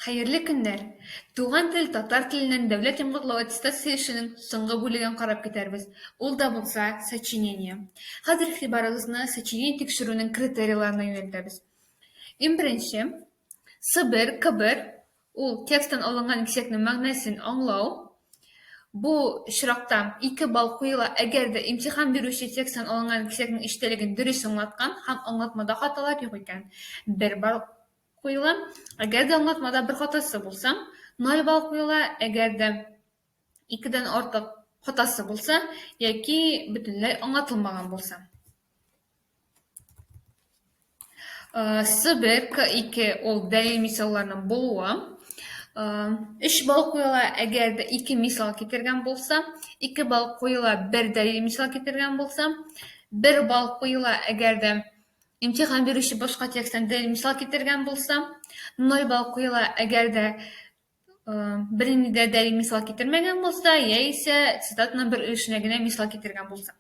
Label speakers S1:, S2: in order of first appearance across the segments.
S1: Хәерле көннәр! Туган тел татар теленнән дәүләт йомгаклау аттестация эшенең соңгы бүлеген карап китәрбез, ул да булса, сочинение. Хәзер игътибарыгызны сочинение тикшерүнең критерийларына юнәлтәбез. Иң беренче, сыбер, кыбыр, ул тексттан алынган имсекнең мәгънәсен аңлау. Бу очракта ике балл куела, әгәр дә имтихан бирүче тексттан алынган имсекнең эчтәлеген дөрес аңлаткан һәм аңлатмада хаталар юк икән, бер балл. куела. Әгәр дә аңлатмада бер хатасы булса, 0 балл куела. Әгәр дә икедән артык хатасы булса, яки бөтенләй аңлатылмаган булса. Сыбер К2 ул дәлил мисалларның булуы. 3 балл куела, әгәр дә 2 мисал китергән булса, 2 балл куела, бер дәлил мисал китергән булса, 1 балл куела, әгәр дә Имтихан бирүче башка тексттан дәлил мисал китергән булса, нойба укыйла, әгәр дә бернинди дә дәлил мисал китермәгән булса, яисә цитатаның бер өлешенә генә мисал китергән булса.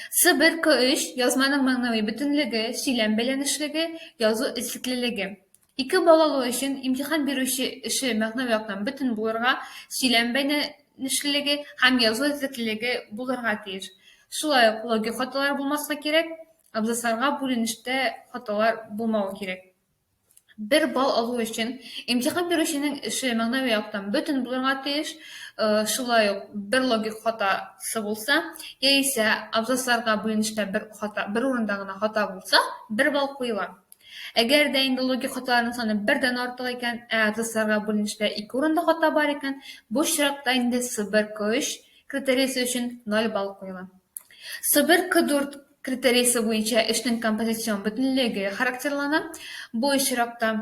S1: С1 К3 язманың мәгънәви бөтенлеге, сөйләм бәйләнешлеге, язу эзлеклелеге. Ике балалы өчен имтихан бирүче эше мәгънәви яктан бөтен булырга, сөйләм бәйләнешлелеге һәм язу эзлеклелеге булырга тиеш. Шулай ук логик хаталар булмаска кирәк. Абзацларга бүленештә хаталар булмавы кирәк. Бер балл алу өчен имтихан бирүченең эше мәгънәви яктан бөтен булырга тиеш, шулай ук бер логик хатасы булса, яисә абзацларга бүленештә бер хата, бер урында гына хата булса, бер балл куела. Әгәр дә инде логик хаталарның саны бердән артык икән, ә абзацларга бүленештә ике урында хата бар икән, бу очракта инде Сыбер К3 критериясе өчен 0 балл куела. Сыбер К4 критериясе буенча эшнең композицион бөтенлеге характерлана. Бу очракта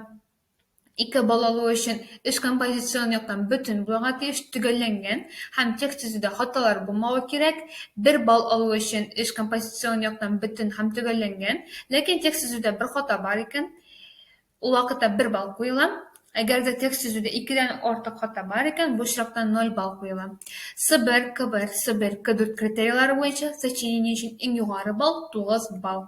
S1: Ике балалы өчен эш композицион яктан бөтен булырга тиеш, төгәлләнгән һәм текст төзүдә хаталар булмавы кирәк. Бер балл алу өчен эш композицион яктан бөтен һәм төгәлләнгән, ләкин текст төзүдә бер хата бар икән, ул вакытта бер балл куела. Әгәр дә текст төзүдә икедән артык хата бар икән, бу очракта ноль балл куела. С1, К1, С1, К4 критерийлары буенча сочинение өчен иң югары балл, тугыз балл.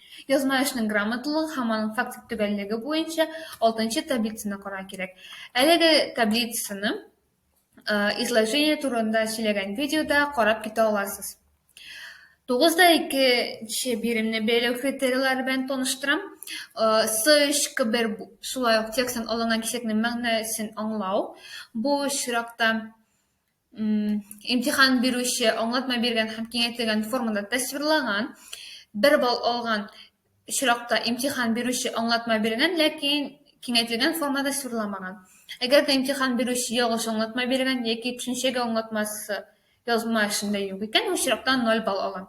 S1: Язма эшнең грамоталыгы һәм аның фактик төгәллеге буенча алтынчы таблицаны карарга кирәк. Әлеге таблицаны изложение турында сөйләгән видеода карап китә аласыз. 9-да 2-нче биремне бәйләү критерийлары белән таныштырам. С3 кбер шулай ук тексттан алынган кисәкнең мәгънәсен аңлау. Бу очракта имтихан бирүче аңлатма биргән һәм киңәйтелгән формада тасвирланган бер балл алган очракта имтихан бирүче аңлатма биргән ләкин киңәйтелгән формада тасвирламаган әгәр дә имтихан бирүче ялгыш аңлатма биргән яки төшенчәгә аңлатмасы язма эшендә юк икән бу очракта ноль балл ала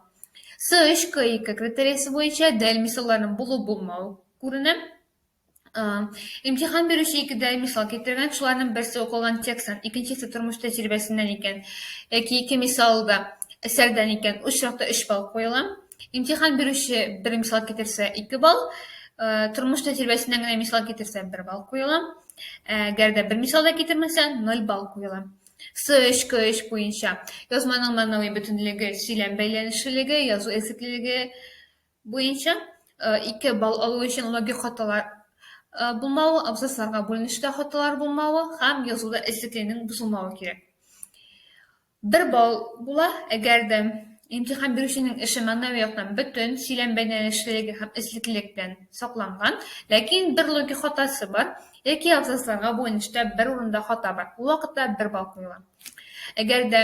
S1: с өч к ике критериясе буенча дәл мисалларның булу булмау күренә Имтихан бирүче икедә мисал китергән, шуларның берсе укылган текстан, икенчесе тормыш тәҗрибәсеннән икән, яки ике мисал да әсәрдән икән, очракта 3 балл куела. Имтихан бирүче бер мисал китерсә 2 балл, тормыш тәҗрибәсеннән генә мисал китерсә 1 балл куела. Әгәр дә бер мисал да китермәсә 0 балл куела. С3, К3 буенча язманың мәгънәви бөтенлеге, сөйләм бәйләнешлелеге, язу эзлеклелеге, буенча ике балл алу өчен логик хаталар булмавы, абзацларга бүленешкә хаталар булмавы һәм язуда эзлеклейнең бозылмавы кирәк. Бер балл була, әгәр дә имтихан бирүченең эше мәгънәви яктан бөтен, сөйләм бәйләнешлелеге һәм эзлеклелек белән сакланган, ләкин бер логик хатасы бар, яки абзацларга бүленештә бер урында хата бар. Ул вакытта бер балл куела. Әгәр дә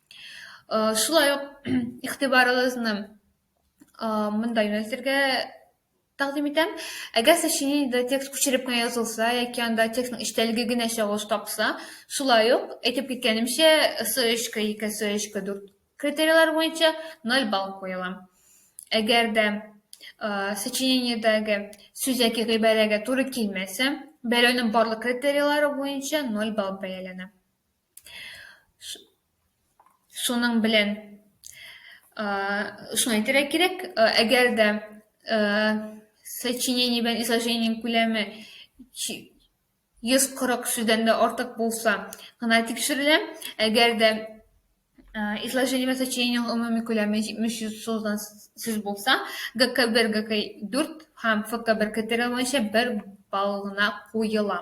S1: Шулай ук игътибарыгызны монда юнәлтергә тәкъдим итәм. Әгәр сез чиниедә текст күчереп кенә язылса, яки анда текстның эчтәлеге генә чагылыш тапса, шулай ук, әйтеп киткәнемчә, СОЭЧК 2, СОЭЧК 4 критерийлар буенча 0 балл куела. Әгәр дә сочинениедәге сүз яки гыйбарәгә туры килмәсә, бәяләүнең барлык критерийлары буенча 0 балл бәяләнә. Шуның белән шуны әйтергә кирәк, әгәр дә сочинение белән изложениенең күләме 140 сүздән дә артык булса гына тикшерелә, әгәр дә изложение белән сочинениенең гомуми күләме 700 сүздән сүз булса, ГК1, ГК4 һәм ФК1 критерийлары буенча бер балл гына куела.